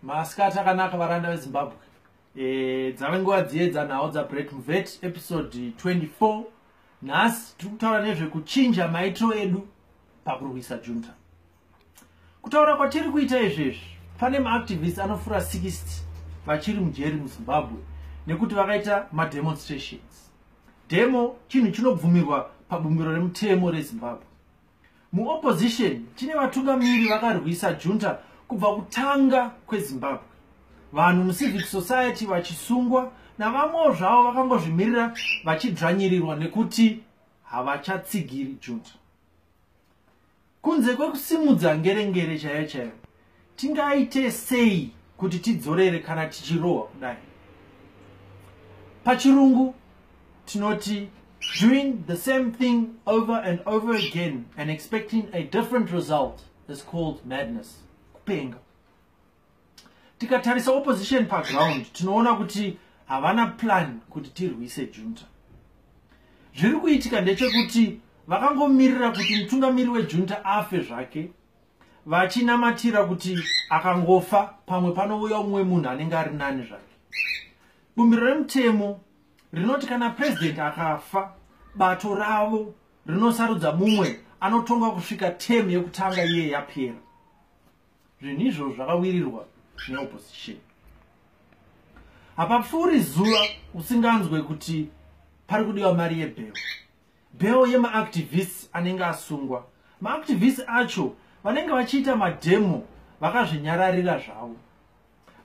masikati akanaka varanda vezimbabwe e, dzave nguva dziye dzanhau dzabreak mvet episode 24 nhasi tiri kutaura nezvekuchinja maitiro edu pakurwisa junta kutaura kwatiri kuita izvezvi pane maactivist anofura 60 vachiri mujeri muzimbabwe nekuti vakaita mademonstrations demo chinhu chinobvumirwa pabumbiro remutemo rezimbabwe Muopposition tine vatungamiri vakarwisa junta kubva kutanga kwezimbabwe vanhu mucivic society vachisungwa navamwewo zvavo vakangozvimirira vachidzvanyirirwa nekuti havachatsigiri junta kunze kwekusimudza ngerengere chaiyo chaiyo tingaite sei kuti tidzorere kana tichirohwa kudai pachirungu tinoti doing the same thing over and over again and expecting a different result is called madness kupenga tikatarisa opposition paground tinoona kuti havana plan kuti tirwise junta zviri kuitika ndechekuti vakangomirira kuti mutungamiri wejunta afe zvake vachinamatira kuti akangofa pamwe panouya umwe munhu anenge ari nani zvake bumbiro remutemo rinoti kana purezidenti akafa bato ravo rinosarudza mumwe anotonga kusvika temu yekutanga iye yapera zvinhu izvozvo zvakawirirwa neopposition hapapfuuri zuva usinganzwe kuti pari kudiwa mari yebhero bhero yemaactivists anenge asungwa maactivists acho vanenge vachiita mademo vakazvinyararira zvavo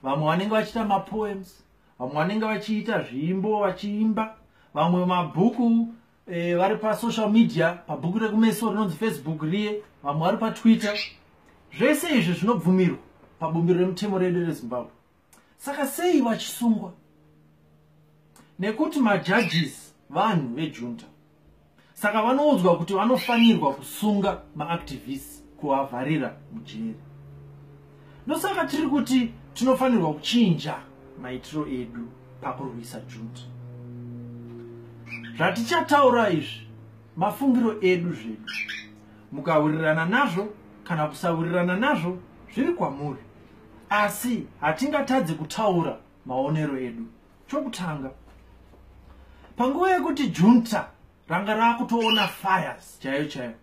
vamwe vanenge vachiita mapoems vamwe vanenge vachiita zviimbo vachiimba vamwe mabhuku e, vari pasocial media pabhuku rekumeso rinonzi facebook riye vamwe vari patwitter zvese izvi zvinobvumirwa pabumbiro remutemo redu rezimbabwe saka sei vachisungwa nekuti majudges vanhu vejunta saka vanoudzwa kuti vanofanirwa kusunga maactivists kuvavharira mujeri ndosaka tiri kuti tinofanirwa kuchinja maitiro edu pakurwisa junta zvatichataura izvi mafungiro edu zvedu mukawirirana nazvo kana kusawirirana nazvo zviri kwamuri asi hatingatadze kutaura maonero edu chokutanga panguva yekuti junta ranga raakutoona fires chaiyo chaiyo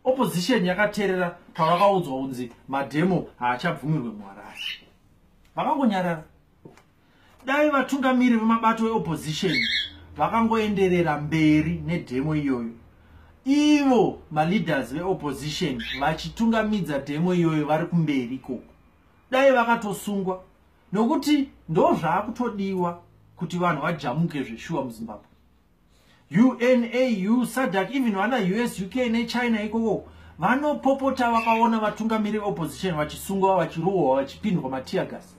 opposition yakaterera pavakaudzwa kunzi mademo haachabvumirwe muharare vakangonyarara dai vatungamiri vemabato eopposition vakangoenderera mberi nedemo iyoyo ivo maleaders veopposition vachitungamidza demo iyoyo vari kumberi ikoko dai vakatosungwa nokuti ndozvaakutodiwa kuti vanhu vajamuke zveshuwa muzimbabwe unau sadac even vana us uk nechina ikoko vanopopota vakaona vatungamiri veopposition vachisungwa vachirohwa vachipindwa matiagas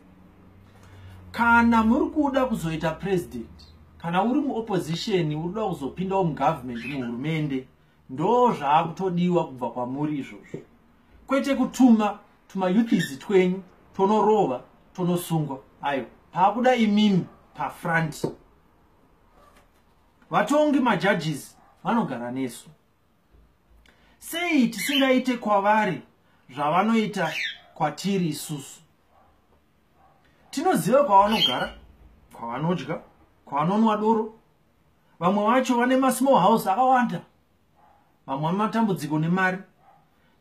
kana muri kuda kuzoita president kana uri muopposition uri kuda kuzopindawo mugovernment muhurumende ndo zvaakutodiwa kubva kwamuri izvozvo kwete kutuma tumayuthizi twenyu tonorova tonosungwa ayo paakuda imimi pafront vatongi majudges vanogara nesu sei tisingaite kwavari zvavanoita kwatiri isusu tinoziva kwavanogara kwavanodya kwavanonwa doro vamwe vacho vane masmall house akawanda vamwe vane matambudziko nemari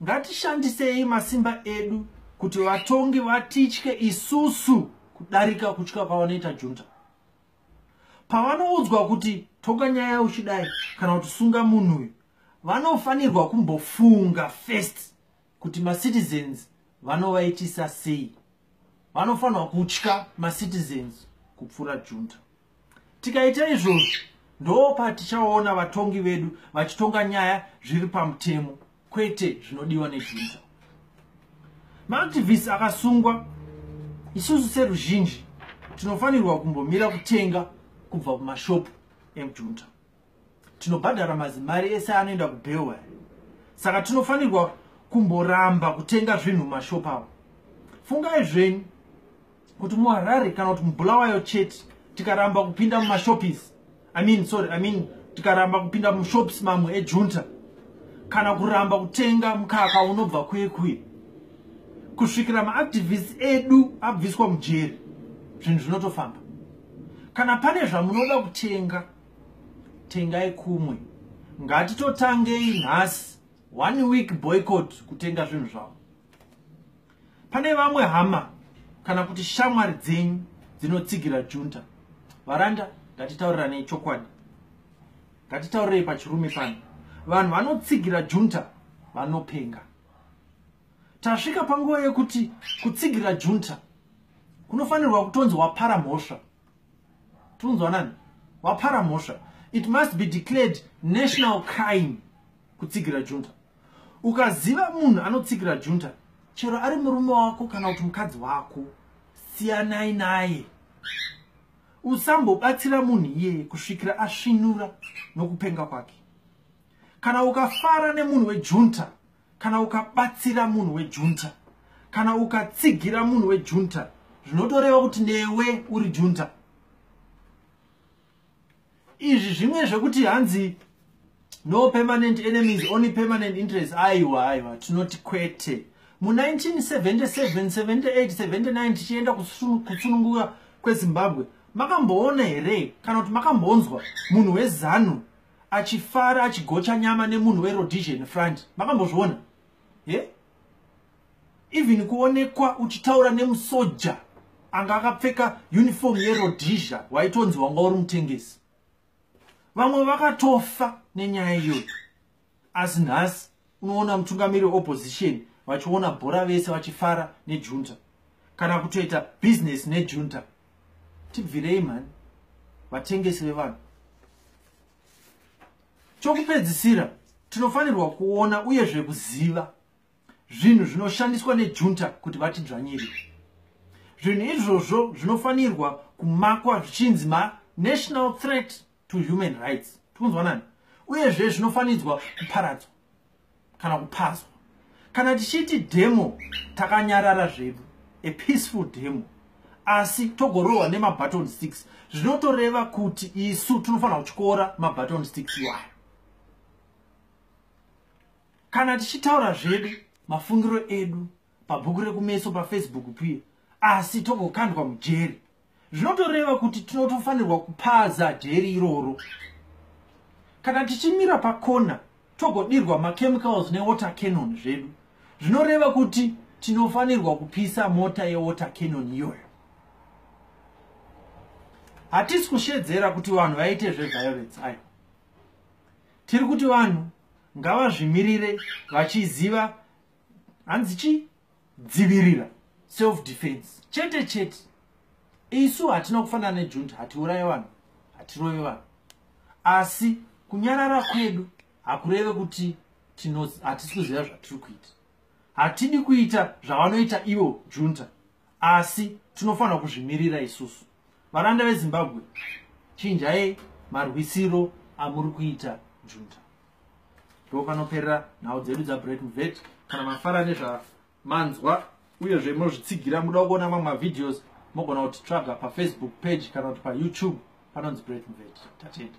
ngatishandisei masimba edu kuti vatongi vatitye isusu kudarika kutya kwavanoita junta pavanoudzwa kuti toka nyaya uchidai kana kuti sunga munhu uyu vanofanirwa kumbofunga first kuti macitizens vanovaitisa sei vanofanirwa kutya macitizens kupfuura junta tikaita izvozvo ndopatichaona vatongi vedu vachitonga nyaya zviri pamutemo kwete zvinodiwa nejunta maactivists akasungwa isusu seruzhinji tinofanirwa kumbomira kutenga kubva kumashopu emjunta tinobhadhara mazimari ese anoenda kubhewa saka tinofanirwa kumboramba kutenga zvinhu mumashopu avo fungai zvenyu kuti muharare kana kuti mubulawayo chete tikaramba kupinda mumashopis i mean sorry i mean tikaramba kupinda mushops mamwe ejunta kana kuramba kutenga mukaka unobva kuye kuye kusvikira maactivist edu abviswa mujeri zvinhu zvinotofamba kana pane zvamunoda kutenga tengai kumwe ngatitotangei nhasi one week boycott kutenga zvinhu zvavo Pane vamwe hama kana kuti shamwari dzenyu dzinotsigira junta. Varanda, ngatitauriranei chokwadi. Ngatitaurirei pachirume pano. Vanhu vanotsigira junta vanopenga. Tasvika panguva yekuti kutsigira junta kunofanirwa kutonzi wapara mhosva. Tunzwa nani? Wapara mhosva. It must be declared national crime kutsigira junta. ukaziva munhu anotsigira junta chero ari murume wako kana kuti mukadzi wako siyanai naye usambobatsira munhu iyeye kusvikira asvinura nokupenga kwake kana ukafara nemunhu wejunta kana ukabatsira munhu wejunta kana ukatsigira munhu wejunta zvinotoreva kuti newe uri junta izvi zvimwe zvekuti hanzi no permanent enemies only permanent interest aiwa aiwa tinoti kwete mu1977-78-79 tichienda kutsununguka kwezimbabwe makamboona here kana kuti makambonzwa munhu wezanu achifara achigocha nyama nemunhu werodision front makambozviona he yeah? even kuonekwa uchitaura nemusoja anga akapfeka uniform yerodhizha waitonzi wanga uri mutengesi vamwe vakatofa nenyaya iyoyo asi nhasi unoona mutungamiri weopposition vachiona bhora vese vachifara nejunta kana kutoita bhizinesi nejunta tibvirei mhani vatengesi vevanhu Chokupedzisira, tinofanirwa kuona uyezve kuziva zvinhu zvinoshandiswa nejunta kuti vatidzvanyire. Zvinhu izvozvo zvinofanirwa kumakwa zvichinzi manational threat to human rights. Tikunzwanani? Uyezve zvinofanidzwa kuparadzwa. kana kupazwa kana tichiti demo takanyarara zvedu a peaceful demo asi togorohwa nemabutton sticks zvinotoreva kuti isu tinofanira kutyora mabutton sticks iwayo kana tichitaura zvedu mafungiro edu pabhuku rekumeso pafacebook piye asi togokandwa mujeri zvinotoreva kuti tinotofanirwa kupaza dheri iroro kana tichimira pakona togodirwa machemicals newater canon zvedu zvinoreva kuti tinofanirwa kupisa mota yewater canon iyoyo hatisi kushedzera kuti vanhu vaite zveviolence ayo tiri kuti vanhu ngavazvimirire vachiziva hanzi chii dzivirira self defense chete chete isu hatina kufanana nejunta hatiuraye vanhu hatirove vanhu asi kunyarara kwedu hakureve kuti hatisi kuziva zvatiri kuita hatidi kuita zvavanoita ivo junta asi tinofanira kuzvimirira isusu varanda vezimbabwe chinjai marwisiro amuri kuita junta ndopanoperera nhau dzedu dzabreak mvet kana mafara nezvamanzwa uyezve munozvitsigira muda kuona mamwe mavideos mogona kutitsvaga pafacebook page kana kuti payoutube panonzi break mvet tatenda